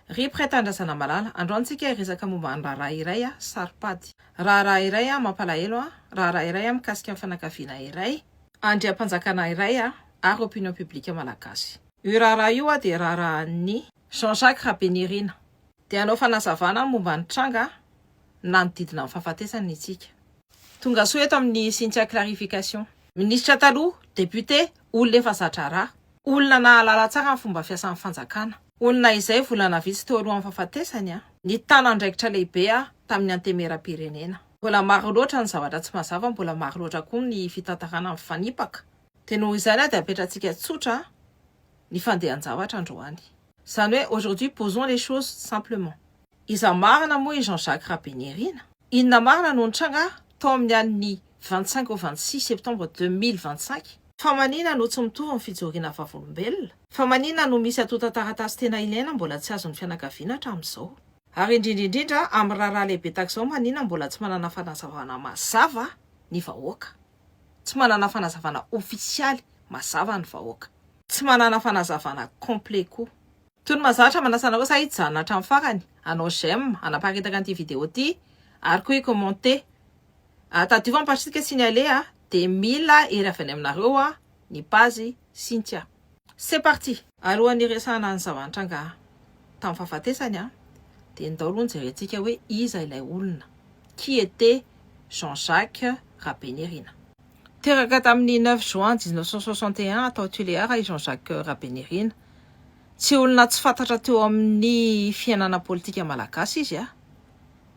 Rip Reta Andrasanamalala, androany tsika hiresaka momba ny raharaha iray a, saro-pady. Raharaha iray a, mampalahelo a, raharaha iray a, mikasika ny fianakaviana iray. Andriampanjakana iray a, ary opinion publique malagasy. Io raharaha io a dia raharahan'i. Jean Jacques Rabenirina. Dia hanao fanazavana momba ny tranga nanodidina ny fahafatesany isika. Tongasoa eto amin'i Cynthia Clarification. Minisitra taloha, député, olona efa zatra raha. Olona nahalala tsara ny fomba fiasan'ny fanjakana. Olona izay volana vitsy teo alohan'ny fahafatesany an! Nitana andraikitra lehibe aho tamin'ny Antemeram-pirenena. Mbola maro loatra ny zavatra tsy mazava, mbola maro loatra koa ny fitantarana mifanipaka. Dia noho izany aho dia apetratsika tsotra ny fandehan-javatra androany. Izany hoe aujourd'hui posons les choses simplement. Iza marina moa i Jean Jacques Rabenirina? Inona marina no nitranga tao amin'ny alin'ny vingt cinq au vingt six septembre deux mille vingt cinq? Fa manina no tsy mitovy ny fijoriana vavolombelona? Fa manina no misy antontan-taratasy tena ilaina mbola tsy azon'ny fianakaviana hatramin'izao? Ary indrindra indrindra amin'ny raharaha lehibe tahak'izao manina mbola tsy manana fanazavana mazava ny vahoaka? Tsy manana fanazavana ofisialy mazava ny vahoaka. Tsy manana fanazavana complet koa. Tony mazatra manasa anareo sa hijanona hatramin'ny farany hanao j'aime hanaparitaka an'ity vidéo ity ary koa hi-commenter. Ah tadidio fa mipatrisika signale ah de mila hery avy any aminareo ah ny page Cynthia. C'est parti! Alohan'ny hiresahana ny zava-nitranga tamin'ny fahafatesany ah de ndao aloha jerentsika hoe iza ilay olona, qui était Jean Jacques Rabenirina? Teraka tamin'ny neuf juin dix-neuf cent soixante et un tao Tuléar i Jean-Jacques Rabenirina. Tsy olona tsy fantatra teo amin'ny fiainana politika malagasy izy a!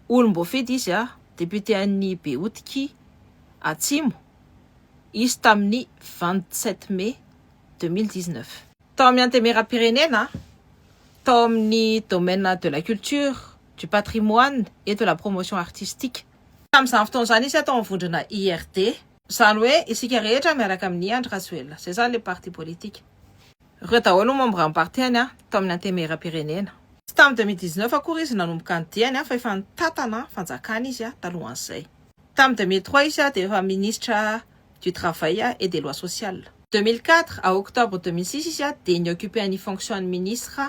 Olom-boafidy izy a! Député an'ny Behotiky Atsimo izy tamin'ny vingt-sept mai deux mille dix-neuf. Tao amin'ny Antemeram-pirenena, tao amin'ny domaine de la culture, du patrimoine et de la promotion artistique. Tamin'izany fotoana izany izy tao amin'ny vondrona IRD. Izany hoe isika rehetra miaraka amin'i Andry Rajoelina. Izay izany ilay parti politique. Ireo daholo no membran'ny partihany tao amin'ny antemieram-pirenena. Tsy tamin'ny deux mille dix-neuf akory izy nanomboka ny diany fa efa nitantana fanjakana izy talohan'izay. Tamin'ny deux mille trois izy dia efa ministre du travail et des lois sociales. Deux mille quatre à octobre deux mille six izy dia ni-occuper an'ny fonction-n'ny ministre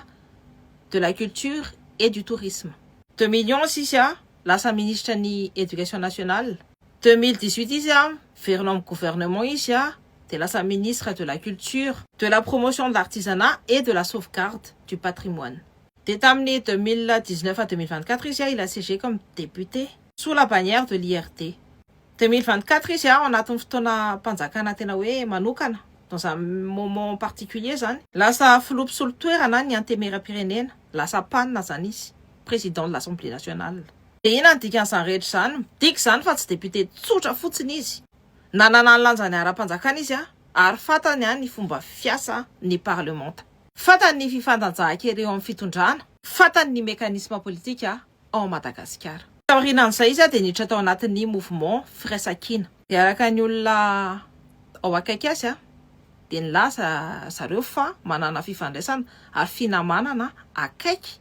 de la culture et du tourisme. Deux mille onze izy lasa ministra ny Education Nationale. Deux mille dix huit izy a verina ao am gouvernement izy a de lasa ministre de la culture, de la promotion de l'artisanat et de la sauvegarde du patrimoine. De tamin'ny deux mille dix neuf à deux mille vingt quatre izy a il a siégé comme député sous la bannière de l'IRD. Deux mille vingt quatre izy a ao anatin'ny fotoana mpanjakana tena hoe manokana dans un moment particulier zany. Lasa filoha mpisolo toerana ny antemieram-pirenena, lasa pan zany izy. président de l'Assemblée nationale. Dia inona ny dikan'izany rehetra izany? Midika izany fa tsy député tsotra fotsiny izy. Nanana ny lanjany ara-panjakana izy ary fantany ny fomba fiasa ny parlemanta. Fantany ny fifandanjahan-kery eo amin'ny fitondrana. Fantany ny mécanisme politika ao Madagasikara. Taorianan'izay izy dia niditra tao anatin'ny mouvement Firaisankina. Dia araka ny olona ao akaiky azy dia nilaza zareo fa manana fifandraisana ary finamanana akaiky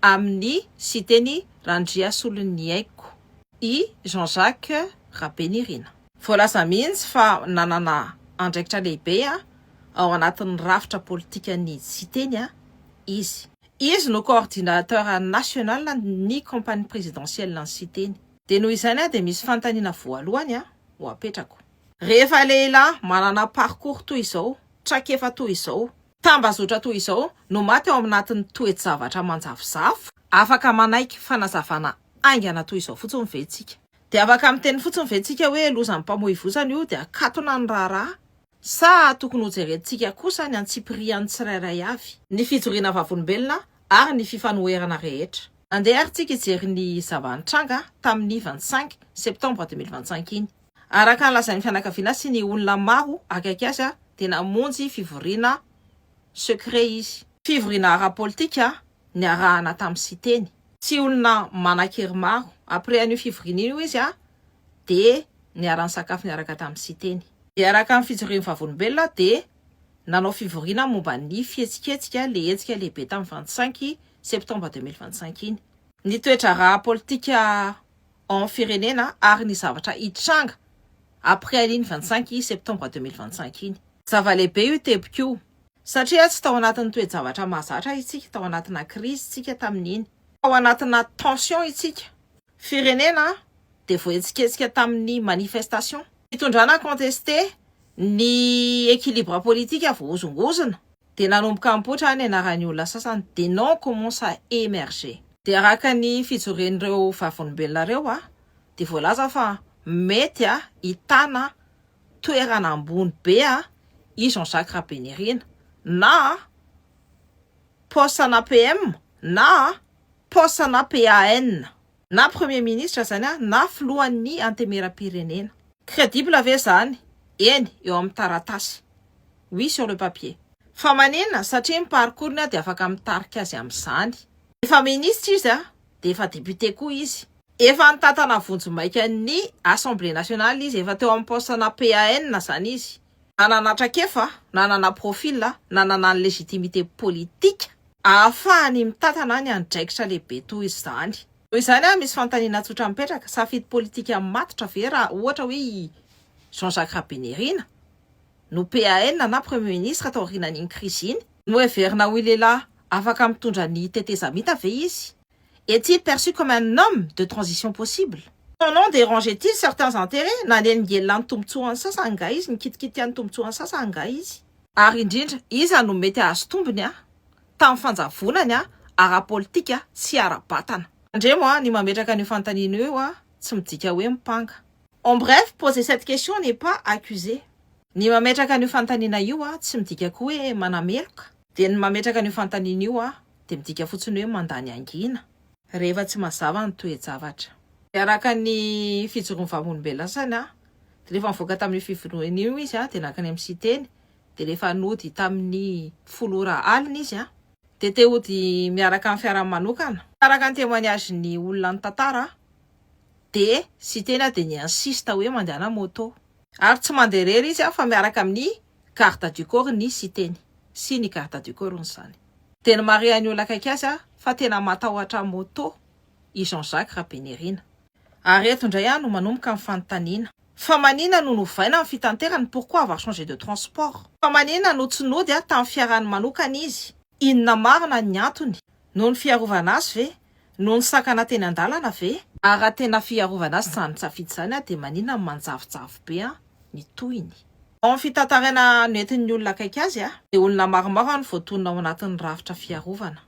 amin'ny Siteny Randriasoloniaiko i Jean Jacques Rabenirina. Voalaza mihitsy fa nanana andraikitra lehibe ao anatin'ny rafitra politikan'ny Siteny izy. Izy no coordinateur national ny compagnie présidentielle ny Siteny. Dia noho izany dia misy fanontaniana voalohany ho apetrako. Rehefa lehilahy manana parcours toy izao, traikefa toy izao, Tambazotra toy izao no maty ao anatin'ny toe-javatra manjavozavo? Afaka manaiky fanazavana haingana toy izao fotsiny ve isika? Dia afaka miteny fotsiny ve isika hoe lozan'ny mpamoivozana io dia akatona ny raharaha? Sa tokony hojerentsika kosa ny antsipirihan'ny tsirairay avy? Ny fijoriana vavolombelona ary ny fifanoherana rehetra. Andeha ary isika hijery ny zava-nitranga tamin'ny vingt cinq septembre deux mille vingt cinq iny. Araka ny lazain'ny fianakaviana sy ny olona maro akaiky azy dia namonjy fivoriana secret izy. Fivoriana ara-politika niarahana tamin'i Siteny. Tsy olona manan-kery maro. Après an'io fivoriana io izy dia niara-nisakafo niaraka tamin'i Siteny. Dia araka ny fijoroan'ny Vavolombelona dia nanao fivoriana momba ny fihetsiketsika le hetsika lehibe tamin'ny vingt cinq septembre deux mille vingt cinq iny. Ny toedraharaha politika ao amin'ny firenena ary ny zavatra hitranga après an'iny vingt cinq septembre deux mille vingt cinq iny. Zava-lehibe io teboka io satria tsy tao anatin'ny toe-javatra mahazatra isika, tao anatina crise isika tamin'iny, tao anatina tension isika, firenena dia voahetsiketsika tamin'ny manifestation, fitondrana contester ny équilibre politique voahozongozona, dia nanomboka nipoitra ny anaran'ny olona sasany, des noms commencent à emerger. Dia araka ny fijorian'ireo Vavolombelona ireo dia voalaza fa mety hitana toerana ambony be i Jean Jacques Rabenirina na poste-na PM na poste-na PAN. Na premier ministre zany an, na filohan'ny antemeram-pirenena. Credible ve zany? Eny, eo amin'ny taratasy. Oui sur le papier. Fa manina satria ny parcours-ny dia afaka mitarika azy amin'izany. Efa ministra izy an, dia efa député koa izy. Efa nitantana vonjimaika ny assemblée nationale izy, efa teo amin'ny poste-na PAN zany izy. Nanana traikefa, nanana profil, nanana ny légitimité politika. Ahafahany mitantana ny andraikitra lehibe toy izany. Noho izany ary misy fanontaniana tsotra mipetraka, safidy politika matotra ve raha ohatra hoe i Jean Jacques Rabenirina no PAN na Premier Ministre taorianan'iny krizy iny? Noheverina ho lehilahy afaka mitondra ny tetezamita ve izy? Est-il perçu comme un homme de transition possible? En dérangeait-il certains intérêts? Nanelingelina ny tombontsoan'ny sasany angaha izy? Nikitikitika ny tombontsoan'ny sasany angaha izy? Ary indrindra, iza no mety hahazo tombony tamin'ny fanjavonany ara-politika sy ara-batana? Tandremo a, ny mametraka an'io fanontaniana io a, tsy midika hoe mipanga. En bref, poser cette question n'est pas accuser. Ny mametraka an'io fanontaniana io a, tsy midika koa hoe manameloka. Dia ny mametraka an'io fanontaniana io aho dia midika fotsiny hoe mandany hangina rehefa tsy mazava ny toe-javatra. Dia araka ny fijoroan'ny vavolombelona sasany aho dia rehefa nivoaka tamin'io fivoriana io izy dia nankany amin'ny Siteny dia rehefa nody tamin'ny folo ora alina izy dia te hody miaraka amin'ny fiarany manokana. Araka ny témoignage-n'ny olona nitantara dia Siteny dia ni-insiste hoe mandehana moto. Ary tsy mandeha irery izy fa miaraka amin'ny garde du corps ny siteny sy ny garde du corps ny zany. Dia nomarihan'ny olona akaiky azy fa tena matahotra moto i Jean Jacques Rabenirina. Ary eto indray aho no manomboka ny fanontaniana, fa manina no novaina ny fitanterany, pourquoi avoir changé de transport? Fa manina no tsy nody tamin'ny fiarany manokana izy? Inona marina ny antony? Noho ny fiarovana azy ve? Noho ny sakana teny an-dalana ve? Ary raha tena fiarovana azy izany safidy izany dia maninona no manjavozavo be ny tohiny? Ao amin'ny fitantaraina noentin'ny olona akaiky azy dia olona maromaro no voatonona ao anatin'ny rafitra fiarovana.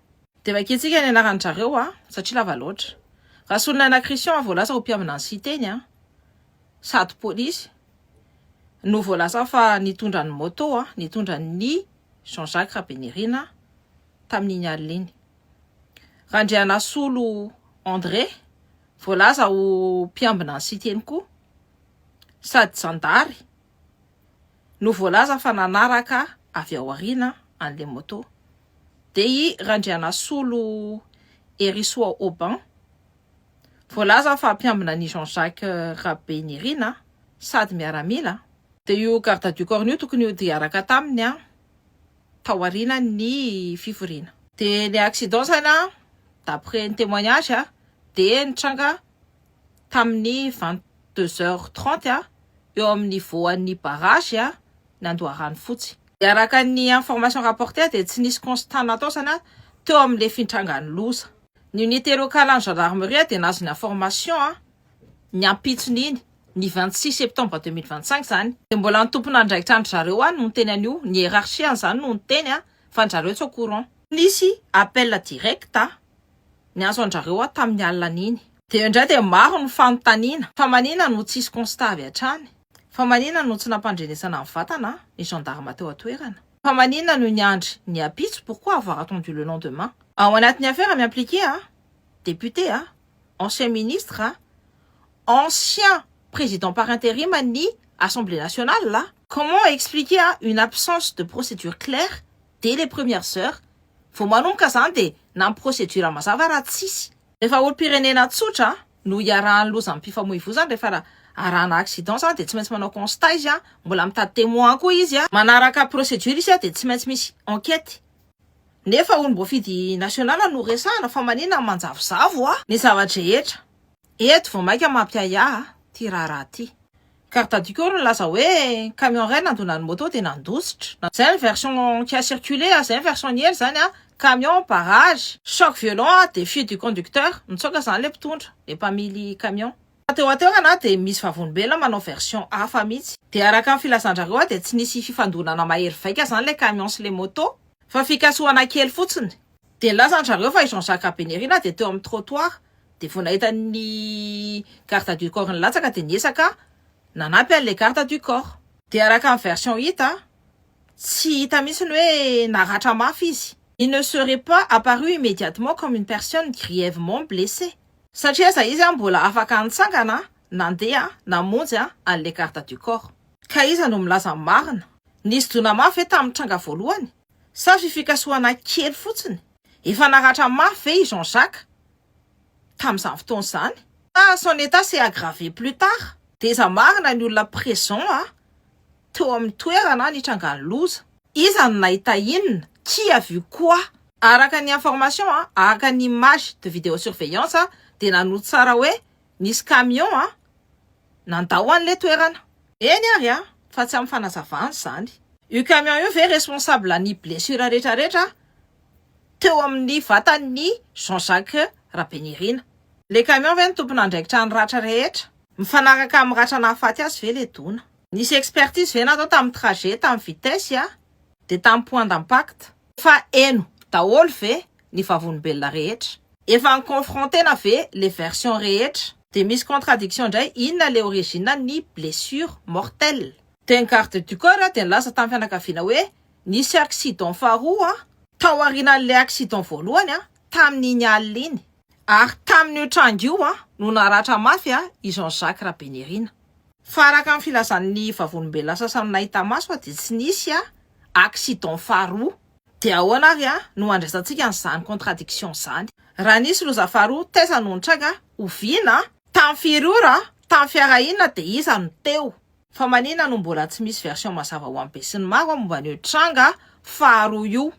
Dia vakintsika ny anaran-dry zareo satria lava loatra. Rasolonana Christian voalaza ho mpiambina ny Siteny sady polisy no voalaza fa nitondra ny moto nitondra ny Jean Jacques Rabenirina tamin'iny alina iny. Randrianasolo André, voalaza ho mpiambina an'i Siteny koa, sady zandary, no voalaza fa nanaraka avy ao aoriana an'ilay moto. Dia i Randrianasolo Herisoa Aubin, Voalaza fa mpiambina an'i Jean Jacques Rabeinirina sady miaramila. Dia io garde du corps-ny io tokony ho diaraka taminy taorianan'ny fivoriana. Dia ny accident saina d'après ny témoignage dia nitranga tamin'ny vingt deux heures trente eo amin'ny voan'ny barrage ny Andoharanofotsy. Araka ny information rapportée dia tsy nisy constat natao saina teo amin'ny lefintranga ny loza. Ny unité locale any gendarmerie dia nazony en formation ny ampitsony iny, ny vingt six septembre deux mille vingt cinq zany, dia mbola ny tompon'andraikitra an-dry zareo any no niteny an'io, ny hierarchie an'izany no niteny fa an-dry zareo tsy au courant. Nisy appel direct ny azo an-dry-zareo tamin'ny alinan'iny. Dia indray dia maro ny fanontaniana fa manina no tsisy constat avy hatrany? Fa manina no tsy nampandrenesana ny vatana ny gendarme teo an-toerana? Fa manina no niandry ny ampitso pourquoi avoir attendu le lendemain? Ao anatin'ny affaire mi-impliquer a, député a, ancien ministre a, ancien président par interim an'ny assemblée nationale a, comment expliquer a une absence de procédure claire dès les premières heures, vao manomboka zany dia na ny procédure mazava raha tsisy. Rehefa olom-pirenena tsotra no hiarahan'ny lozam-pifamoivozana rehefa ra arahana accident zany dia tsy maintsy manao constat izy an, mbola mitady témoin koa izy an, manaraka procédure izy an dia tsy maintsy misy enquête. Nefa olom-boafidy national no resahana fa manina ny manjavozavo a! Ny zava-drehetra. Eto vao maika mampiahiahy ty raharaha ty. Garde du corps nilaza hoe camion iray nandona ny moto dia nandositra. Izay ny version qui a circulé ary izay ny version niely izany an! Camion barrage! Choc violent a défi du conducteur, nitsoaka izany ilay mpitondra, ilay mpamily camion. Fa teo an-toerana dia misy vavolombelona manao version hafa mihitsy. Dia araka ny filazan-dRareo dia tsy nisy fifandonana mahery vaika izany ilay camion sy ilay moto, fa fikasohana kely fotsiny. Dia nilaza ry zareo fa i Jean Jacques Rabenerina dia teo amin'ny trottoir dia vao nahita ny garde du corps nilatsaka dia niezaka nanampy an'ilay garde du corps. Dia araka ny version hita, tsy hita mihitsy ny hoe naratra mafy izy. Il ne serait pas apparu immédiatement comme une personne grièvement blessée. Satria aiza izy mbola afaka nitsangana, nandeha, namonjy an'ilay garde du corps. Ka iza no milaza ny marina? Nisy dona mafy ve tamin'ny tranga voalohany? Sa fifikasohana kely fotsiny? Efa naratra mafy ve i Jean Jacques tamin'izany fotoana izany? Sa son état s'est aggravé plus tard? Teza marina ny olona présent a teo amin'ny toerana nitrangan'ny loza. Iza no nahita inona? Qui a vu quoi? Araka ny information a, araka ny image de video surveillance a, dia nanohy tsara hoe nisy camion a, Nandao an le toerana. Eny ary a! Fa tsy amin'ny fanazavana izany. Io camion io ve responsable ny blessure rehetra rehetra teo amin'ny vatan'ny Jean Jacques Rabenirina? Le camion ve no tompon'andraikitra an'ny ratra rehetra? Mifanaraka amin'ny ratra nahafaty azy ve le dona? Nisy expertise ve natao tamin'ny trajet, tamin'ny vitesse? Dia tamin'ny point d'impact. Fa heno daholo ve ny vavolombelona rehetra? Efa en confronter-na ve le version rehetra? Dia misy contradiction indray, inona le origine ny blessure mortelle? Dia ny garde du corps dia nilaza tamin'ny fianakaviana hoe nisy accident faharoa tao aorianan'ilay accident voalohany tamin'iny alina iny. Ary tamin'io tranga io no naratra mafy i Jean Jacques Rabenirina. Fa araka ny filazan'ny Vavolombelona sasany nahita maso dia tsy nisy accident faharoa. Dia ahoana ary no handraisantsika an'izany contradiction izany? Raha nisy loza faharoa, taiza no nitranga? Oviana? Tamin'ny firy ora? Tamin'ny fiara inona dia iza no teo? Fa manina no mbola tsy misy version mazava ho an'ny besinimaro momba an'io tranga faharoa io?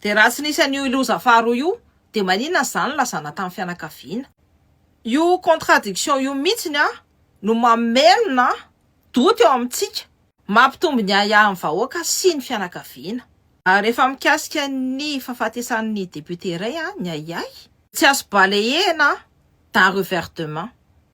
Dia raha tsy nisy an'io loza faharoa io dia maninona ny zany nilazana tamin'ny fianakaviana? Io contradiction io mihitsiny an no mamelona doute eo amintsika, mampitombo ny ahiahin'ny vahoaka sy ny fianakaviana. Rehefa mikasika ny fahafatesan'ny député iray ny ahiahy, tsy azo balayena d'un revers de main.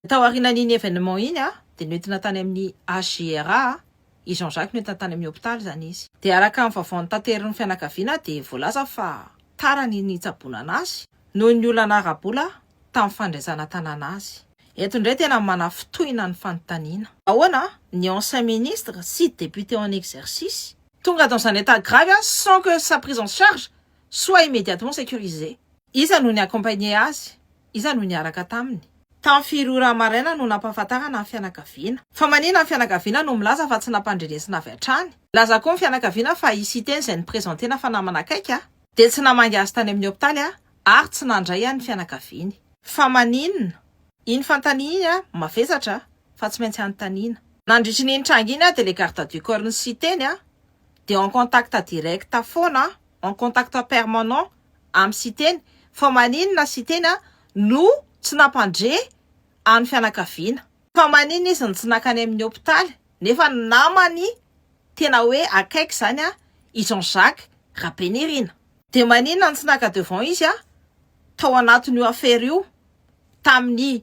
Taorianan'iny événement iny dia nentina tany amin'ny HJRA i Jean Jacques no entiny tany amin'ny hopitaly izany izy. Dia araka ny vaovao notaterin'ny fianakaviana dia voalaza fa tara ny nitsaboana an'azy noho ny olana ara-bola tamin'ny fandresana tanàna azy. Eto indray tena manafintohina ny fanontaniana. Ahoana ny ancien ministre sy député en exercice? Tonga dans un état grave sans que sa prise en charge soit immédiatement sécurisée. Iza no ni-accompagner azy Iza no niaraka taminy? Tamin'ny firy ora maraina no nampahafantarana ny fianakaviana? Fa manina ny fianakaviana no milaza fa tsy nampandrenesina avy hatrany? Milaza koa ny fianakaviana fa i Siteny izay noprezentena fa namana akaiky dia tsy namangy azy tany amin'ny hopitaly ary tsy nandray an'ny fianakaviany. Fa maninona? Iny fanontaniana iny mavesatra fa tsy maintsy anontaniana. Nandritry iny tranga iny dia ilay garde du corps-n'i Siteny dia en contact direct foana, en contact permanent amin'i Siteny fa maninona Siteny no tsy nampandre an'ny fianakaviana, fa maninona izy no tsy nankany amin'ny hopitaly nefa ny namany tena hoe akaiky izany i Jean Jacques Rabenirina? Dia maninona no tsy naka devant izy tao anatin'io affaire io tamin'ny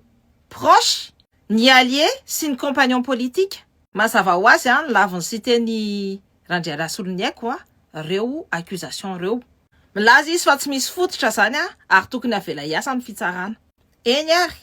proches, ny alliés sy ny compagnons politiques? Mazava ho azy ny lavin'i Siteny Randrialahy Soloniaiko a reo accusation reo. Milaza izy fa tsy misy fototra zany a ary tokony avela hiasa ny fitsarana. Eny ary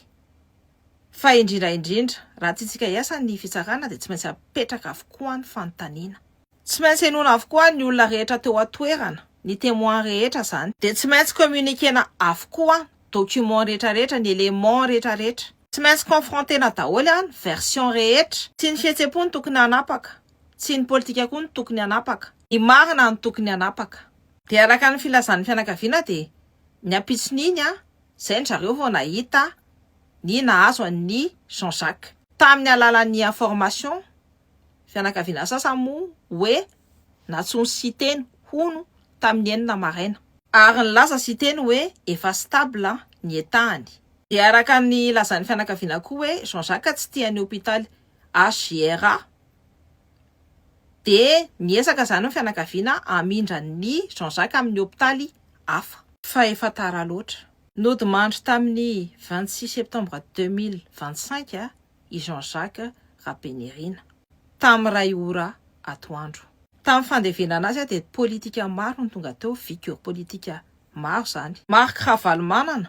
fa indrindra indrindra raha tiantsika hiasa ny fitsarana dia tsy maintsy apetraka avokoa ny fanontaniana. Tsy maintsy henoina avokoa ny olona rehetra teo atoerana, ny temoins rehetra zany. Dia tsy maintsy communiquena avokoa documents rehetra rehetra, ny elements rehetra rehetra. Tsy maintsy confrontena daholo ny versions rehetra. Tsy ny fihetsem-po no tokony hanapaka Tsy ny politika koa no tokony hanapaka. Ny marina no tokony hanapaka. Dia araka ny filazan'ny fianakaviana dia ny ampitson'iny an, izay ndry zareo vao nahita ny nahazo an'i Jean Jacques. Tamin'ny alalan'ny information, fianakaviana sasany moa hoe natsoin'i Siteny hono tamin'ny enina maraina. Ary nilaza Siteny hoe efa stable ny etahany. Dia araka ny lazan'ny fianakaviana koa hoe Jean Jacques tsy tia ny hopitaly HJRA. dia miezaka izany ny fianakaviana hamindra an'i Jean Jacques amin'ny hopitaly hafa. Fa efa tara loatra. Nodimandry tamin'ny vingt six septembre deux mille vingt cinq i Jean Jacques Rabenirina, tamin'ny iray ora atoandro. Tamin'ny fandevenana azy dia politika maro no tonga teo, figure politique maro izany. Marc Ravalomanana,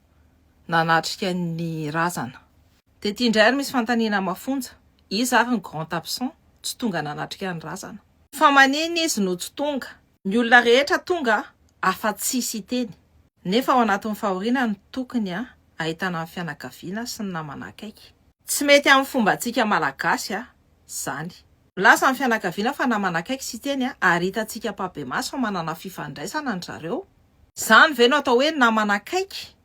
nanatrika ny razana. Tety indray ary misy fanontaniana mafonja, iza ary ny grand absent tsy tonga nanatrika ny razana? Fa manina izy no tsy tonga? Ny olona rehetra tonga afa tsy Siteny, nefa ao anatin'ny fahoriana no tokony ahitana ny fianakaviana sy ny namana akaiky. Tsy mety amin'ny fombantsika malagasy zany. Milaza ny fianakaviana fa namana akaiky Siteny ary hitantsika ampahibemaso fa manana fifandraisana an-dry zareo. Izany ve no atao hoe namana akaiky?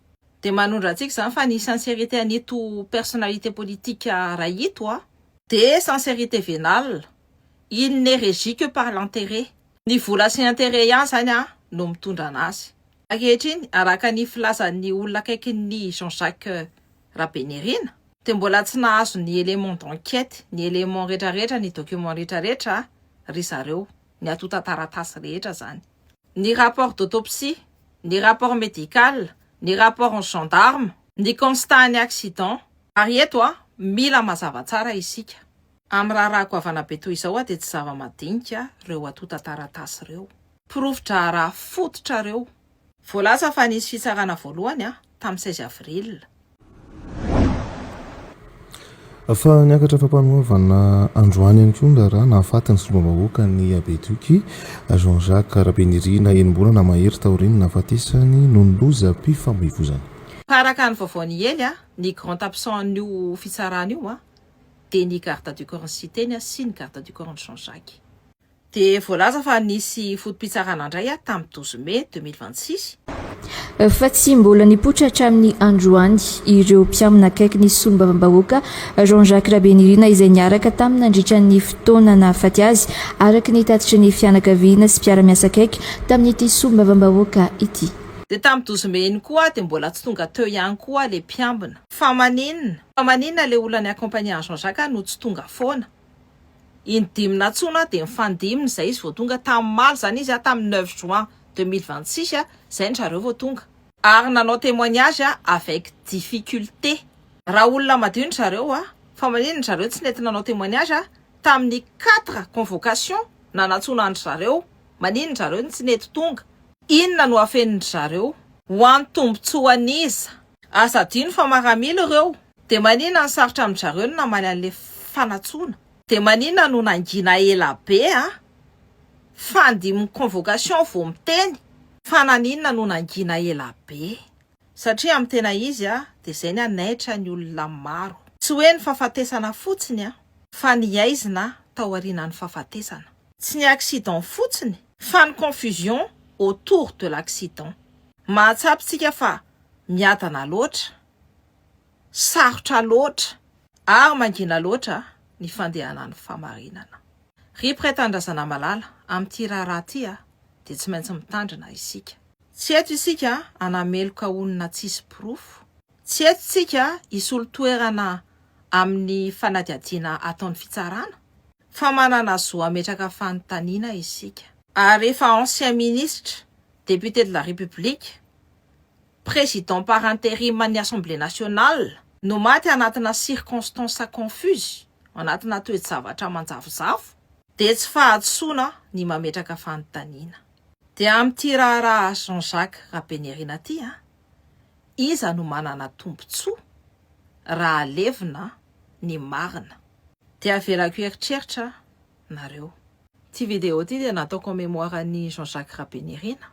Dia manondro antsika izany fa ny sincérité an'ito personnalité politique iray ito an, dia sincérité vénale, il n'est régi que par l'intérêt. Ny vola sy intérêt ihany izany an no mitondra an'azy. Ankehitriny, araka ny filazan'ny olona akaikin'i Jean Jacques Rabenirina, dia mbola tsy nahazo ny éléments d'enquête, ny éléments rehetrarehetra, ny documents rehetrarehetra ry zareo, ny antontan-taratasy rehetra izany. Ny rapport d'autopsie, ny rapport médical, ny rapport-n'ny gendarmes, ny constat-n'ny accident. Ary eto, mila mazava tsara isika, amin'ny raharaha goavana be toy izao dia tsy zava-madinika ireo antontan-taratasy ireo. Porofo-draharaha fototra ireo. Voalaza fa nisy fitsarana voalohany tamin'ny seize avril. Fa niakatra fampanoavana androany ihany koa ny raharaha nahafaty ny solombavambahoaka ny Habeduc, Jean Jacques Rabenirina enim-bolana mahery taorian'ny nahafatesany noho ny lozam-pifamoivozana. Araka ny vaovao niely, ny grand absent an'io fitsarana io dia ny garde du corps-n'ny Siteny sy ny garde du corps-n'i Jean Jacques. Dia voalaza fa nisy foto-pitsarana indray aho tamin'ny douze mai deux mille vingt-six. Fa tsy mbola nipoitra hatramin'ny androany ireo mpiamina akaiky ny solombavambahoaka Jean Jacques Rabenirina izay niaraka taminy nandritra ny fotoana nahafaty azy, araka ny tatitry ny fianakaviana sy mpiara-miasa akaiky tamin'ity solombavambahoaka ity. Dia tamin'ny douze mai iny koa dia mbola tsy tonga teo ihany koa ilay mpiambina. Fa maninona? Fa maninona ilay olona niaccompagner an'i Jean Jacques no tsy tonga foana? Iny dimy nantsoina dia nifandimina izay izy vao tonga. Tamin'omaly izany izy an, tamin'ny neuf juin deux mille vingt six an, izay ny zareo vao tonga. Ary nanao témoignage an, avec difficulté. Raha olona madio ny zareo an, fa maninona ny zareo tsy nety nanao témoignage an, tamin'ny quatre convocation na nantsoina an-dry zareo, maninona ny zareo no tsy nety tonga? Inona no afenin-dry zareo? Ho an'ny tombontsoan'iza? Aza adino fa maramila ireo. Dia manina no sarotra amin-dry zareo ny namaly an'ilay fanatsoana? Dia manina no nangina ela be a! Fandimby convocation vao miteny fa naninona no nangina ela be? Satria amin'ny tena izy a, dia izay ny hanaitra ny olona maro. Tsy hoe ny fahafatesana fotsiny a, fa ny haizina taorianan'ny fahafatesana. Tsy ny accident fotsiny, fa ny confusion autour de l'accident. Mahatsapy tsika fa miadana loatra. Sarotra loatra ary mangina loatra ny fandehanan'ny famarinana. Ry mpiray tanindrazana malala, amin'ity raharaha ity dia tsy maintsy mitandrina isika. Tsy eto isika hanameloka olona tsisy porofo, tsy eto isika hisolo toerana amin'ny fanadihadiana ataon'ny fitsarana, fa manana zo hametraka fanontaniana isika. Ary rehefa ancien ministre, député de la République, Président par interim an'ny Assemblée nationale no maty anatina circonstances confuses, anatina toe-javatra manjavozavo, dia tsy fahadisoana ny mametraka fanontaniana. Dia amin'ity raharaha Jean Jacques Rabenirina ity an, iza no manana tombontsoa raha alevina ny marina? Dia avelako hieritreritra nareo. Ity vidéo ity dia natao commémoire an'i Jean Jacques Rabenirina.